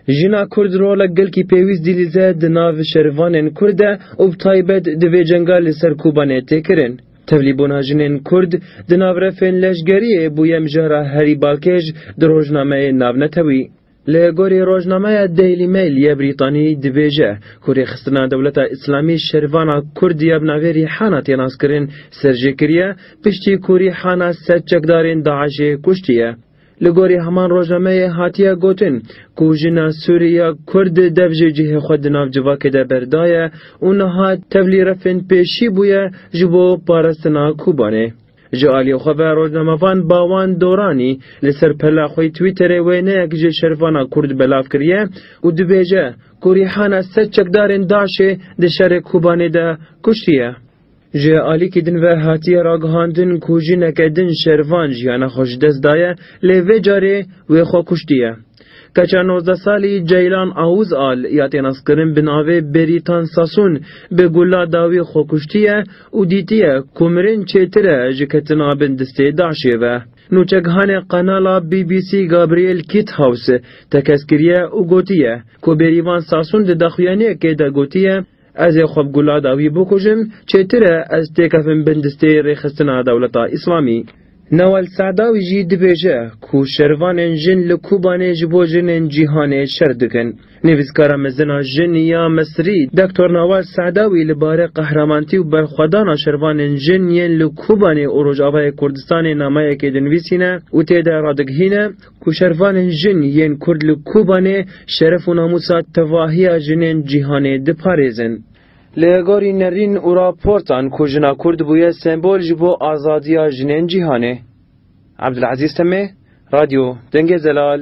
Jina Kurd rola gelkî pêwîst dîlîze di nav şerivanên Kurd de û bi taybet di vê cenga li ser Kobanê tê kirin. Tevlîbûna jinên Kurd di nav refên leşgeriyê bûye mijara herî balkêş di rojnameyê navnetewî. Li gorî rojnameya Daily Mail yê Brîtanî dibêje ku rêxistina dewleta Îslamî şerivana Kurd ya bi navê Rîhana tê naskirin ser jê kiriye piştî ku Rîhana sed çekdarên DAIŞ'ê kuştiye. Li gorî heman rojnameyê hatiye gotin ku jina Sûrî ya Kurd dev jî cihê xwe di nav civakê de berdaye û niha tevlî refên pêşî bûye ji bo parestina Kobanê. Ji aliyê xwe ve rojnamevan Bawan Doranî li ser pela xwe yê Twitterê wêneyek ji şerifana Kurd belav kiriye û dibêje ku Rîhana sed çekdarên DAIŞ'ê di şerê Kobanê de kuştiye. Ji aliyekî din ve hatiye ragihandin ku jineke din şerivan jiyana xwe ji dest daye lê vê carê wê xwe kuştiye. Keça nozdeh salî Ceylan Awûz a li Îyatê naskirin bi navê Beritan Sasûn bi gula dawî xwe kuştiye û dîtiye ku mirin çêtir e ji ketina bin distê DAIŞ'ê ve. Nûçegihanê qenala BBC Gabriel Kitthaus tekez kiriye û gotiye ku Berivan Sasûn di daxuyaniyekê de gotiye, Ez ê xwe bi gula dawî bikujim, çêtir e ez têkevim bin distê rêxistina dewleta Îslamî. Nawal Sa'dawî jî dibêje ku şervanên jin li Kobanê ji bo jinên cîhanê şer dikin. Nivîskara mezin a jin ya Misrî Doktor Nawal Sa'dawî li bare qehramantî û berxwedana şervanên jin yên li Kobanê û Rojavayê Kurdistanê nameyekê dinivîsîne û tê de radigihîne, Ku şervanên jin yên Kurd li Kobanê şeref û namûsa tevahiya jinên cîhanê diparêzin. Li gorî nerîn û raportan ku jina Kurd bûye sembol ji bo azadiya jinên cîhanê. Abdulezîz Temê, Radyo Dengê Zelal.